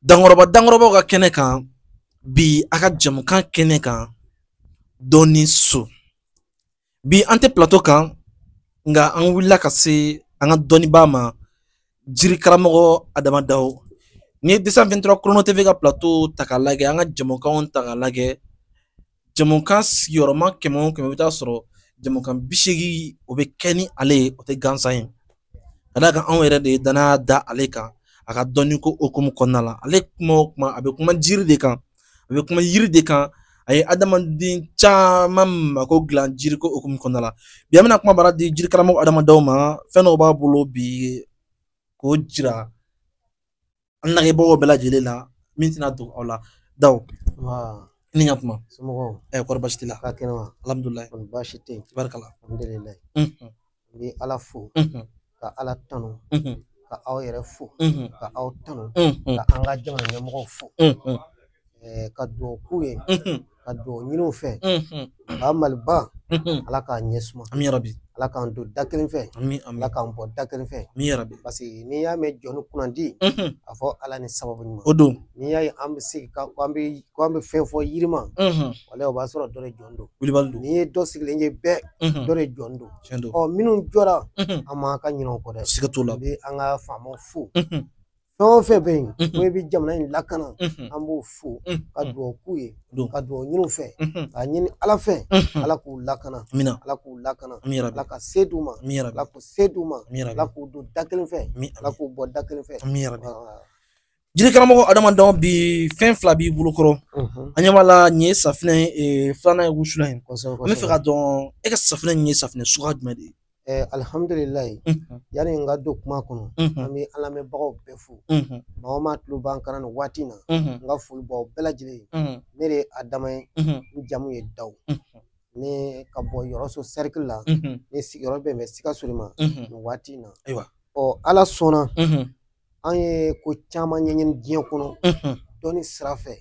dankɔrɔba dankɔrɔbaw ka kɛnɛ kan bi a ka jamukan kɛnɛ kan dɔnni so bi an tɛ plato kan nka an wulila ka se an ka dɔnnibaa ma jiri karamɔgɔ adama daw n'i ye deux cent vingt-trois chrono tv ka plato ta k'a lajɛ an ka jamukanw ta k'a lajɛ jamukan sigiyɔrɔma kɛmɛ o kɛmɛ i bɛ taa sɔrɔ jamukan bi seegin o bɛ kɛ ni ale ye o tɛ gansan ye ka d'a kan anw yɛrɛ de ye danaya da ale kan a ka dɔnniko hukumu kɔnɔna la ale kuma o kuma a bɛ kuma jiri de kan a bɛ kuma yiri de kan a ye adamaden caman mako dilan jiriko hukumu kɔnɔna la bi an bɛna kuma bara di jiri karamɔgɔ adama daw ma fɛn dɔw b'a bolo bi k'o jira an lajɛbagaw bɛɛ lajɛlen na min tɛna dogo aw la daw ni ka kuma somɔgɔw ɛ kɔri baasi t'i la ka kɛnɛ wa alhamdulilayi kɔni baasi tɛ yen barikala alhamdulilayi n bɛ ala fo ka ala tanu ka aw yɛrɛ fo ka aw tanu ka an ka jamana ɲɛmɔgɔw fo eh, ka dugawu k'u ye Mhm, ka dugawu ɲini u fɛ mhm, ba maliba mhm. ala k'a ɲɛ suma Ami yarabi, ala k'an don da kelen fɛ ami, ami, ala k'an bɔ da kelen fɛ ami yarabi. parce que n'i y'a mɛn jɔnnin kunnandi Mhm, a fɔ ala ni sababu ɲuman O don. n'i y'a ye an bɛ se ka ko an bɛ ko an bɛ fɛn fɔ yiri ma Mhm, wala o b'a sɔrɔ dɔ de jɔlen don Wulibali don. n'i ye dɔ sigilen ye bɛɛ Mhm, dɔ de jɔlen don Tiɲɛ don. ɔ minnu jɔra Mhm, an man ka ɲinɛ o kɔ dɛ Siga t'o la. an bɛ an ka faamaw fo Mhm, fɛn o fɛn bɛ yen ko i bɛ jamana in lakana an b'o fo ka dugawu k'u ye ka dugawu ɲini u fɛ k'a ɲini ala fɛ ala k'u lakana ala k'u lakana ala ka se d'u ma ala k'u se d'u ma ala k'u don da kelen fɛ ala k'u bɔ da kelen fɛ jiri karamɔgɔ adama daw bi fɛn fila b'i bolo kɔrɔ an ɲɛ b'a la nin ye safinɛ filanan ye wusulan ye n bɛ fɛ k'a dɔn e ka safinɛ nin ye safinɛ suguya jumɛn de ye alihamdulilayi yanni n ka don kuma kɔnɔ an bɛ an lamɛnbagaw bɛɛ fo maa o maa tulo b'an kan nin waati in na n ka foli b'aw bɛɛ lajɛlen ye ne de ye adama ye n jamu ye dawu ne ka bɔ yɔrɔso sɛrikili la ne sigiyɔrɔ bɛnnen bɛ sikaso de ma nin waati in na ayiwa ɔ ala sɔnna an ye ko caman ɲɛɲini diɲɛ kɔnɔ dɔnni sira fɛ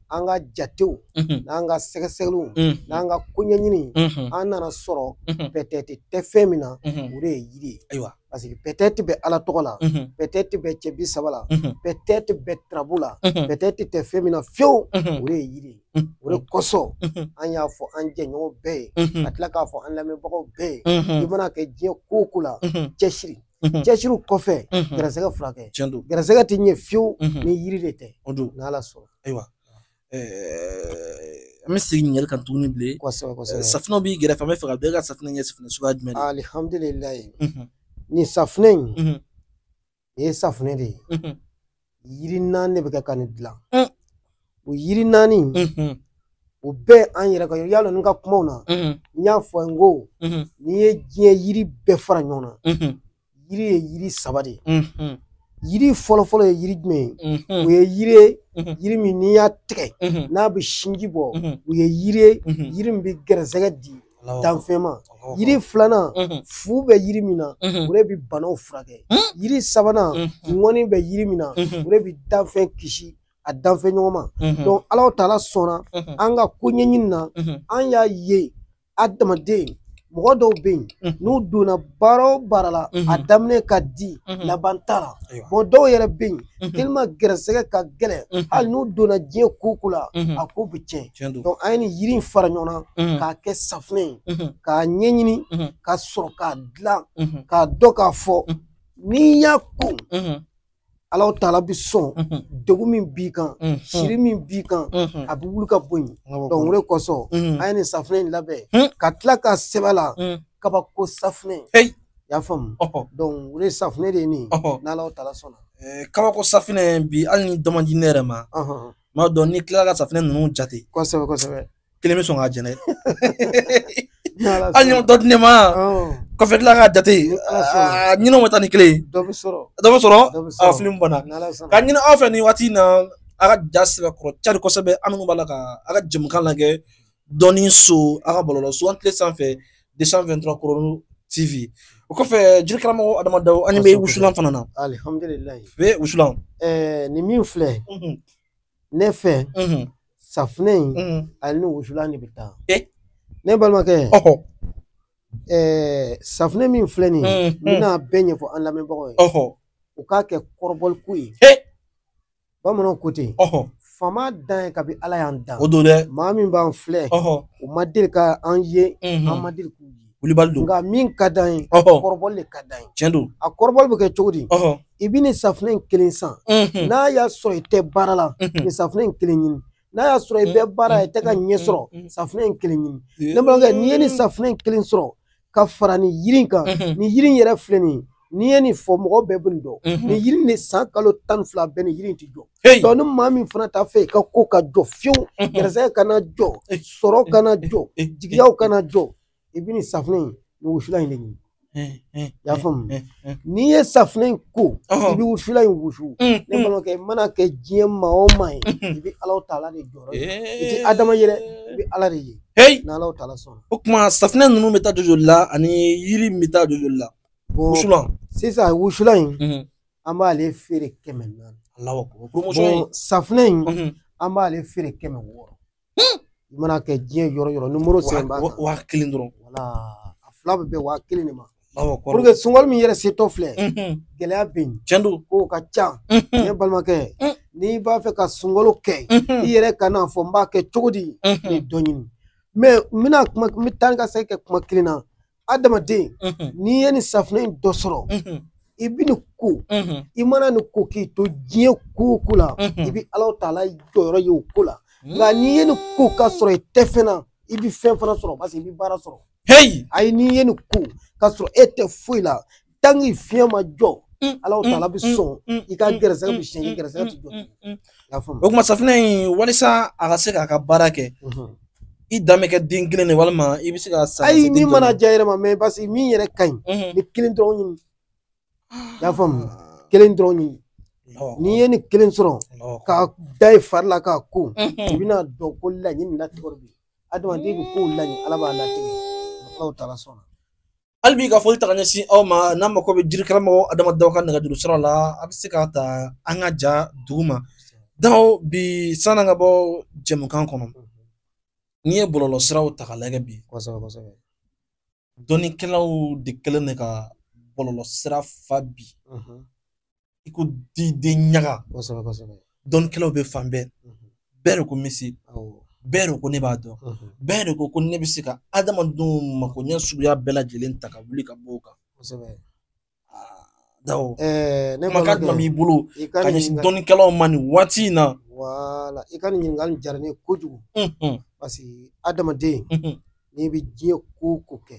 an ka jatew n'an ka sɛgɛsɛgɛliw n'an ka ko ɲɛɲini an nana sɔrɔ pɛtɛti tɛ fɛn min na o de ye yiri ye ayiwa parce que pɛtɛti bɛ ala tɔgɔ la pɛtɛti bɛ cɛ bi saba la pɛtɛti bɛ turabu la pɛtɛti tɛ fɛn min na fiyewu o de ye yiri ye o de kosɔn an y'a fɔ an jɛɲɔgɔn bɛɛ ye ka tila k'a fɔ an lamɛnbagaw bɛɛ ye i mana kɛ diɲɛ ko o ko la cɛsiri Mhm. cɛsiriw kɔfɛ Mhm. garisɛgɛ furakɛ tiɲɛ don garisɛgɛ tɛ ɲɛ fiyewu Mhm. ni yiri de tɛ o don n'ala sɔnna ayiwa ɛɛ, an bɛ segin ɲininkali kan tuguni bilen kosɛbɛ Ɛɛ, kosɛbɛ safunɛw b'i gɛrɛfɛ an bɛ fɛ k'a dɔn e ka safunɛ nin ye safunɛ suguya jumɛn de ye? alihamdulilayi Mhm. nin safunɛ in Mhm. nin ye safunɛ de ye Mhm. yiri naani de bɛ kɛ ka nin dilan Mm. o yiri naani in, Mhm. o bɛɛ an yɛrɛ ka yɔrɔ y'a dɔn n ka kumaw na Mhm. n y'a fɔ n ko Mhm. n'i ye diɲɛ yiri bɛɛ fara ɲɔgɔn na Mhm. yiri ye yiri saba de ye Mhm. yiri fɔlɔfɔlɔ ye yiri jumɛn ye o Mhm. ye yiri ye Mhm. yiri min n'i y'a tigɛ Mhm. n'a bɛ sinji bɔ Mhm. o ye yiri ye Mhm. yiri min bɛ gɛrɛsɛgɛ di danfɛn ma yiri filanan fu bɛ yiri min na o de bɛ banaw furakɛ yiri sabanan ŋɔni bɛ yiri min na o de bɛ danfɛn kisi a danfɛn ɲɔgɔn ma donc ala taala sɔnna an ka ko ɲɛɲini na an y'a ye adamaden mɔgɔ dɔw bɛ yen n'u donna baara o baara la a daminɛ ka di laban t'a la mɔgɔ dɔw yɛrɛ bɛ yen tellement gɛrɛsɛgɛ ka gɛlɛn hali n'u donna diɲɛ ko o ko la a ko bɛ tiɲɛ donc an ye nin yiri in fara ɲɔgɔn na k'a kɛ safunɛ ye k'a ɲɛɲini ka sɔrɔ k'a dilan k'a dɔn k'a fɔ n'i y'a ko ala taala bɛ sɔn degun min b'i kan siri min b'i kan a bɛ wuli ka bɔ yen donc o de kosɔn an ye nin safunɛ in labɛn ka tila k'a sɛbɛn a la kabako safunɛ I y'a faamu donc o de safunɛ de ye nin n'ala taala sɔnna kabako safunɛ bi hali ni dɔ ma di ne yɛrɛ ma m'a dɔn n'i tilala ka safunɛ ninnu jate kosɛbɛ kosɛbɛ kelen bɛ sɔn ka jɛnɛ hali ni dɔ di ne ma kɔfɛ tila ka jate ɲinɛw bɛ taa ni kelen ye dɔ bɛ sɔrɔ a fili n b'a la k'a ɲini aw fɛ nin waati in na a ka ja sɛbɛkɔrɔ cari kosɛbɛ an minnu b'a la ka a ka jɛmukan lajɛ dɔɔni so a ka bɔlɔlɔso an tile sanfɛ 223 chrono tv o kɔfɛ jiri karamɔgɔ adama dawo an bɛ wusulan fana na alihamdulilayi bɛ wusulan ɛɛ nin min filɛ ne fɛ safunɛ in a ni wusulan de bɛ taa ne balimakɛ ɛɛ safunɛ min filɛ nin ye n bɛna bɛɛ ɲɛfɔ an lamɛnbagaw ye u k'a kɛ kɔrɔbɔli ko ye bamananw ko ten ɔhɔ fama dan ye kabi ala y'an dan o don dɛ maa min b'an filɛ ɔhɔ u ma deli ka an ye Mhm. an ma deli k'u ye wulibali don nka min ka d'an ye ɔhɔ kɔrɔbɔli de ka d'an ye tiɲɛ don a kɔrɔbɔli bɛ kɛ cogo di ɔhɔ i bɛ nin safunɛ in kelen san Mhm. n'a y'a sɔrɔ i tɛ baara la Mhm. nin safunɛ in kelen ɲini n'a y'a sɔrɔ i bɛ baara la i tɛ ka ɲɛ sɔrɔ Mhm. safunɛ in kelen ɲini ne balimakɛ n'i ye nin safunɛ in kelen sɔrɔ ka fara nin yiri in kan Mhm. nin yiri in yɛrɛ filɛ nin ye n'i ye nin fɔ mɔgɔ bɛɛ bɛ nin dɔn Mhm. nin yiri in de san kalo tan ni fila bɛɛ nin yiri in ti jɔ Hey! donc ni maa min fana t'a fɛ i ka ko ka jɔ fiyewu Mhm. gɛrɛsɛgɛ kana jɔ Eh, sɔrɔ kana jɔ eh, jigiyaw kana jɔ i bɛ nin safunɛ in nin wusulan in de ɲini eh, eh, i y'a faamu eh, eh. n'i ye safunɛ in ko i Ɔhɔn. bɛ wusulan in wusu Mm, ne mm. balimakɛ i mana kɛ diɲɛ maa o maa ye i bɛ ala taala de jɔyɔrɔ ye i tɛ adama ye dɛ i bɛ ala de ye Hey! n'ala taala sɔnna o kuma safinɛ ninnu bɛ taa joli la ani yiri min bɛ taa joli la wusulan sisan wusulan in mhm. an b'ale feere kɛmɛ naani safinɛ in mhm. an b'ale feere kɛmɛ wɔɔrɔ hmm! i mana kɛ diɲɛ yɔrɔ yɔrɔ nimoro sɛbɛn b'a kan waa kelen dɔrɔn wala a fila bɛ bɛn waa kelen de ma pour que sunkalo min yɛrɛ setɔ filɛ mhm. gɛlɛya bɛ yen tiɲɛ don kow ka ca ne balimakɛ hmm. n'i b'a fɛ ka sunkalo kɛ i yɛrɛ kan'a fɔ n b'a kɛ cogo di nin dɔ ɲini mais n bɛna taa ni ka segin kɛ kuma kelen na adamaden n'i ye nin safunɛ in dɔ sɔrɔ i bɛ nin ko i mana nin ko k'i to diɲɛ ko o ko la i bɛ alahu taala jɔyɔrɔ ye o ko la nka n'i ye nin ko k'a sɔrɔ i tɛ fɛn na i bɛ fɛn fana sɔrɔ parce que i bɛ baara sɔrɔ heyi ayi n'i ye nin ko k'a sɔrɔ e tɛ foyi la tant que fiɲɛ ma jɔ alahu taala bɛ sɔn i ka gɛrɛsɛgɛ bɛ siɲɛ i gɛrɛsɛgɛ tɛ jɔ y'a faamu o kuma safunɛ in walisa a ka se k'a ka baara kɛ i dan bɛ kɛ den kelen de walima i bɛ se ka san ayi min mana diya yɛrɛ ma mais parce que min yɛrɛ ka ɲi nin kelen dɔrɔn ɲini y'a faamu kelen dɔrɔn ɲini n'i ye nin kelen sɔrɔ k'a da i fari la k'a ko i bɛna dɔn ko laɲini latigɛ de bɛ yen adamaden bɛ kow laɲini ala b'a latigɛ alahu taala sɔnna hali bi ka foli ta ka ɲɛsin aw ma n'aw mako bɛ jiri karamɔgɔ adama daw ka nɛgɛjuru sira la a bɛ se k'a ta an ka ja duguma daw bi sann'an ka bɔ jɛmukan kɔnɔ n'i ye bɔlɔlɔ siraw ta k'a lajɛ bi dɔnnikɛlaw de kɛlen de ka bɔlɔlɔ sira fa bi i ko diden ɲaga kosɛbɛ kosɛbɛ dɔnnikɛlaw bɛ fan bɛɛ bɛɛ de ko messi bɛɛ de ko ne b'a dɔn bɛɛ de ko ko ne bɛ se ka adamadenw makoɲɛ suguya bɛɛ lajɛlen ta ka wuli ka bɔ o kan kosɛbɛ daw kumakan jumɛn b'i bolo ka ɲɛsin dɔnnikɛlaw ma nin waati in na wala i ka nin ɲininkali diyara ne ye kojugu parce que adamaden n'i bɛ diɲɛ ko o ko kɛ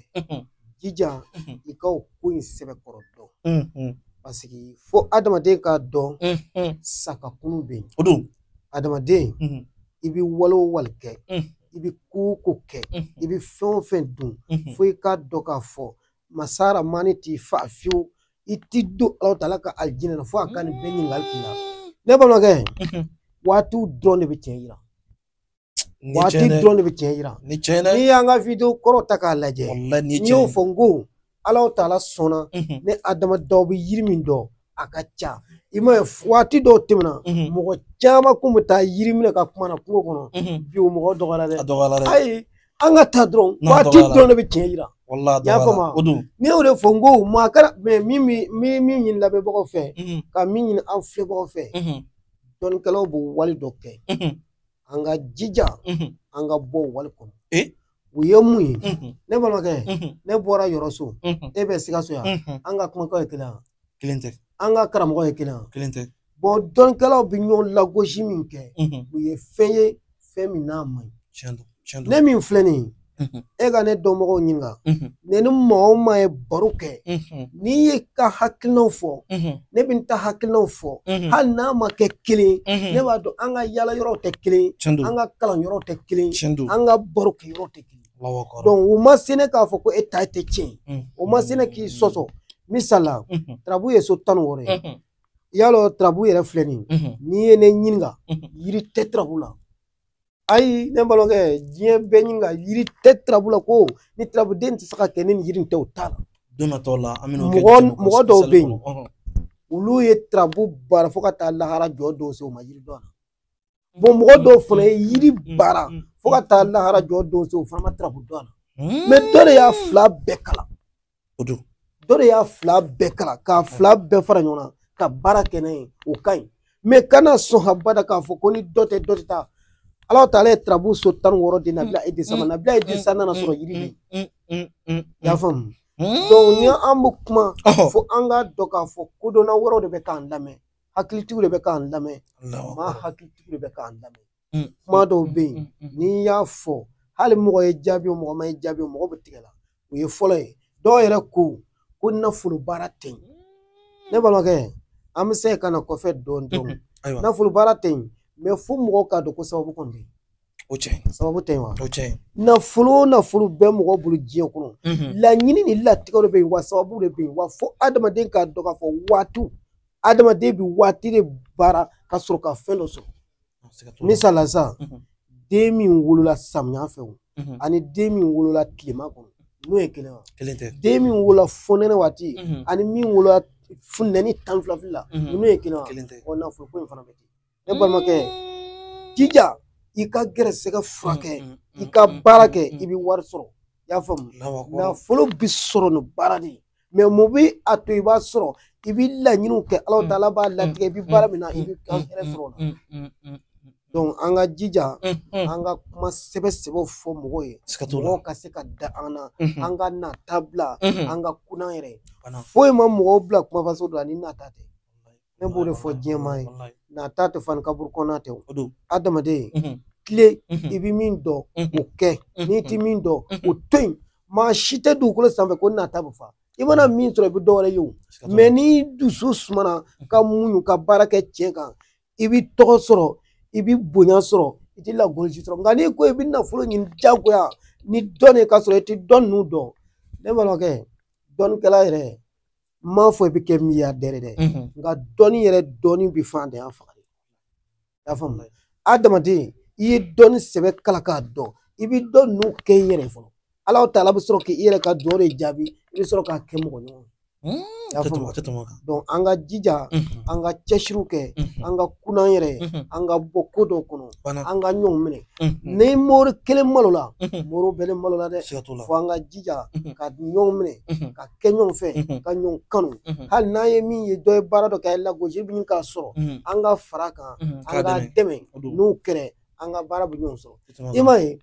jija i ka o ko in sɛbɛkɔrɔ dɔn parce que fo adamaden k'a dɔn sa ka kunu bɛ yen o don adamaden i bɛ wale o wale kɛ i bɛ ko o ko kɛ i bɛ fɛn o fɛn dun fo i k'a dɔn k'a fɔ masa rahamani t'i fa fiyewu i ti don alahu taala ka alijinɛ na fo a ka nin bɛɛ ɲininkali k'i la ne balimakɛ waatiw dɔrɔn de bɛ tiɲɛ yira Ni waati cɛn dɛ. dɔrɔn de bɛ tiɲɛ yira Ni cɛn dɛ. n'i y'an ka video kɔrɔ ta k'a lajɛ Walahi ni n cɛn. y'o fɔ n ko alahu taala sɔnna Mhm. ne adama daw bɛ yiri min dɔn a ka ca i m'a ye waati dɔw tɛmɛna Mhm. mɔgɔ caman kun bɛ taa yiri minɛ ka kuma na kungo kɔnɔ Mhm. bi o mɔgɔ dɔgɔyara A dɛ dɔgɔyara dɛ. ayi an ka taa dɔrɔn N'a waati dɔgɔyara. dɔrɔn de bɛ tiɲɛ yira Walahi a y'a faamu dɔgɔyara. wa? O don. ne y'o de fɔ n ko maa kɛra mɛ min bɛ- min min ɲini lamɛnbagaw fɛ Mhm. ka min ɲini an filɛbagaw fɛ Mhm. dɔnnikɛlaw b'o wale dɔ kɛ Mhm. an ka jija an ka bɔ wali kɔnɔ u ye mun ye ne balimakɛ ne bɔra yɔrɔso e bɛ sikaso yan an ka kumakan ye kelen kelen tɛ an ka karamɔgɔ ye kelen kelen tɛ bɔn dɔnnikɛlaw bɛ ɲɔgɔn lagosi min kɛ u ye fɛn ye fɛn min n'a man ɲi ne min filɛ nin ye e ka ne dɔnbagaw ɲininka ne ni maa o maa ye baro kɛ n'i ye ka hakilinaw fɔ ne bɛ n ta hakilinaw fɔ hali n'a ma kɛ kelen ne b'a dɔn an ka yala yɔrɔw tɛ kelen an ka kalan yɔrɔw tɛ kelen an ka baro kɛ yɔrɔ tɛ kelen o ma se ne k'a fɔ ko e ta tɛ tiɲɛ o ma se ne k'i sɔsɔ misala tarabu ye so tan ni wɔɔrɔ ye y'a dɔn tarabu yɛrɛ filɛ nin n'i ye ne ɲininka yiri tɛ tarabu la ayi ne balimakɛ diɲɛ bɛɛ ɲininka yiri tɛ tirabu la ko ni tirabuden tɛ se ka kɛ ni yiri tɛ o t'a la don natɔ la an bɛna mɔgɔ mɔgɔ dɔw bɛ yen olu ye tirabu baara fo ka taa lahara jɔ dɔw se o ma yiri dɔn na bɔn mɔgɔ dɔw fana ye yiri baara fo ka taa lahara jɔ dɔw se o fana ma tirabu dɔn na mɛ dɔ de y'a fila bɛɛ kalan dɔ de y'a fila bɛɛ kalan k'a fila bɛɛ fara ɲɔgɔn na ka baara kɛ n'a ye o ka ɲi mɛ kana sɔn habada k'a fɔ ko ni dɔ tɛ dɔ tɛ taa ala taala ye tarabu so tan ni wɔɔrɔ di nabila idirisa ma nabila idirisa nana sɔrɔ yiri de y'a faamu donc ni an bɛ kuma fɔ an k'a dɔn k'a fɔ kodɔnna wɛrɛw de bɛ k'an lamɛn hakilitigiw de bɛ k'an lamɛn maa hakilitigiw de bɛ k'an lamɛn kuma dɔw bɛ yen n'i y'a fɔ hali mɔgɔ y'i jaabi o mɔgɔ ma i jaabi o mɔgɔ bɛ tigɛ i la o ye fɔlɔ ye dɔw yɛrɛ ko ko nafolo baara tɛ yen ne balimakɛ an bɛ se ka na kɔfɛ dɔɔni dɔɔni ayiwa nafolo baara tɛ yen mɛ fo mɔgɔw k'a dɔn ko sababu kɔni bɛ yen o cɛ sababu tɛ yen wa o cɛ nafolo o nafolo bɛ mɔgɔ bolo diɲɛ kɔnɔ laɲini ni latigɛ de bɛ yen wa sababu de bɛ yen wa fo adamaden k'a dɔn k'a fɔ waatiw adamaden bɛ waati de baara ka sɔrɔ ka fɛn dɔ sɔrɔ misala sisan den min wolola samiya fɛ o ani den min wolola tilema kɔnɔ n'o ye kelen wa kelen tɛ den min wolola fonɛnɛ waati ani min wolola funteni tan fila fila la n'o ye kelen wa kelen tɛ ɔ nafolo ko in fana bɛ ten ne balimakɛ jija i ka gɛrɛsɛgɛ furakɛ i ka baara kɛ i bɛ wari sɔrɔ i y'a faamu nafolo bɛ sɔrɔ ni baara de ye mɛ mun bɛ a to i b'a sɔrɔ i bɛ laɲiniw kɛ ala taala b'a latigɛ i bɛ baara min na i bɛ ka hɛrɛ sɔrɔ o la donc an ka jija an ka kuma sɛbɛ sɛbɛw fɔ mɔgɔw ye mɔgɔw ka se ka da an na an ka nata bila an ka kunan yɛrɛ foyi ma mɔgɔw bila kuma fasɔn dɔ la ni nata tɛ ne b'o de fɔ diɲɛ maa ye Walayi. nata tɛ fa ni kaburu kɔnɔ tɛ o O don. adamaden Mhm. tilen Mhm. i bɛ min dɔn Mhm. o kɛ n'i ti min dɔn o to yen maa si tɛ dugukolo sanfɛ ko nata bɛ fa i mana min sɔrɔ i bɛ dɔwɛrɛ ye o Siga t'o la. mais n'i dusu sumana ka muɲu ka baara kɛ tiɲɛ kan i bɛ tɔgɔ sɔrɔ i bɛ bonya sɔrɔ i tɛ lagosi sɔrɔ nka n'i ko i bɛ nafolo ɲini diyagoya ni dɔnni ka sɔrɔ i tɛ dɔnni in dɔn ne balimakɛ dɔnnikɛla yɛrɛ n m'a fɔ i bɛ kɛ miliyardɛri dɛ nka dɔnni yɛrɛ dɔnni bɛ faantanya faga dɛ i y'a faamuya adamaden i ye dɔnni sɛbɛ kalan k'a dɔn i bɛ dɔnni in kɛ i yɛrɛ fɔlɔ ala ta'ala bɛ sɔrɔ k'i yɛrɛ ka dugawu de jaabi i bɛ sɔrɔ k'a kɛ mɔgɔ ɲɔgɔn an ka jija an ka cɛsiriw kɛ an ka kun'an yɛrɛ an ka bɔ ko dɔ kɔnɔ an ka ɲɔgɔn minɛ ni mori kelen malola mori bɛɛ le malola dɛ fo an ka jija ka ɲɔgɔn minɛ ka kɛ ɲɔgɔn fɛ ka ɲɔgɔn kanu hali n'an ye min ye dɔ ye baara dɔ kɛ lagosi bɛ ɲini k'a sɔrɔ an ka fara a kan an k'a dɛmɛ n'o kɛra an ka baara bɛ ɲɔgɔn sɔrɔ i m'a ye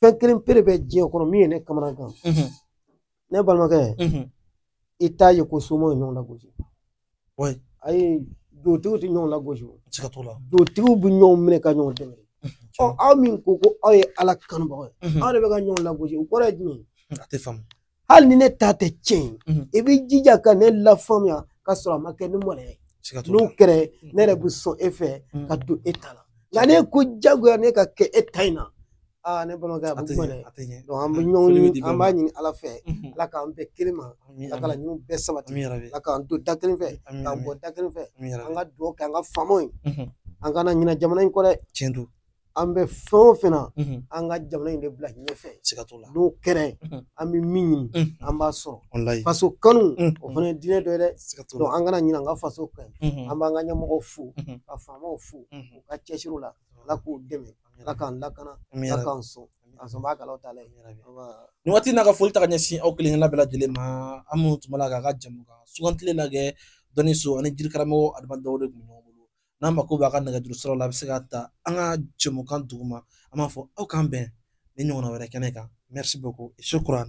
fɛn kelen pere bɛ diɲɛ kɔnɔ min ye ne kamanagan ne balimakɛ i t'a ye ko somaw ye ɲɔgɔn lagosi ayi dugutigiw tɛ ɲɔgɔn lagosi dugutigiw bɛ ɲɔgɔn minɛ ka ɲɔgɔn dɛmɛ ɔ aw min ko ko aw ye ala kanubagaw ye aw de bɛ ka ɲɔgɔn lagosi o kɔrɔ ye jumɛn a tɛ faamu hali ni ne ta tɛ tiɲɛ ye i b'i jija ka ne lafaamuya ka sɔrɔ a ma kɛ ni mɔnɛ ye n'o kɛra ne yɛrɛ bɛ sɔn e fɛ ka don e ta la nka n'e ko jagoya ne ka kɛ e ta in na aa ne balimakɛ a bɛ kuma dɛ an bɛ ɲɔgɔn an b'a ɲini ala fɛ ala k'an bɛn kelen ma ala ka laɲiniw bɛɛ sabati ala k'an to da kelen fɛ k'an bɔ da kelen fɛ an ka dugawu kɛ an ka faamaw ye an kana ɲina jamana in kɔ dɛ tiɲɛ don an bɛ fɛn o fɛn na an ka jamana in de bila ɲɛfɛ n'o kɛra an bɛ min ɲini an b'a sɔrɔ faso kanu o fana ye diinɛ dɔ ye dɛ an kana ɲina an ka faso kan an b'an ka ɲɛmɔgɔw fo ka faamaw fo u ka cɛsiriw la ala k'u dɛmɛ ala k'an lakana ala k'an sɔn an sɔnbagaw ta la nin waati na an ka foli ta k'a ɲɛsin aw kelen kelenna bɛɛ lajɛlen ma aw minnu tun b'a la k'an ka jɛmukan sugandilen lajɛ dɔnni so an ni jiri karamɔgɔ adama dao de tun bɛ ɲɔgɔn bolo n'aw mako b'a ka nɛgɛjuru siraw la a bɛ se k'a ta an ka jɛmukan duguma an b'a fɔ aw k'an bɛn ni ɲɔgɔnna wɛrɛ kɛnɛ kan merci beaucoup shukran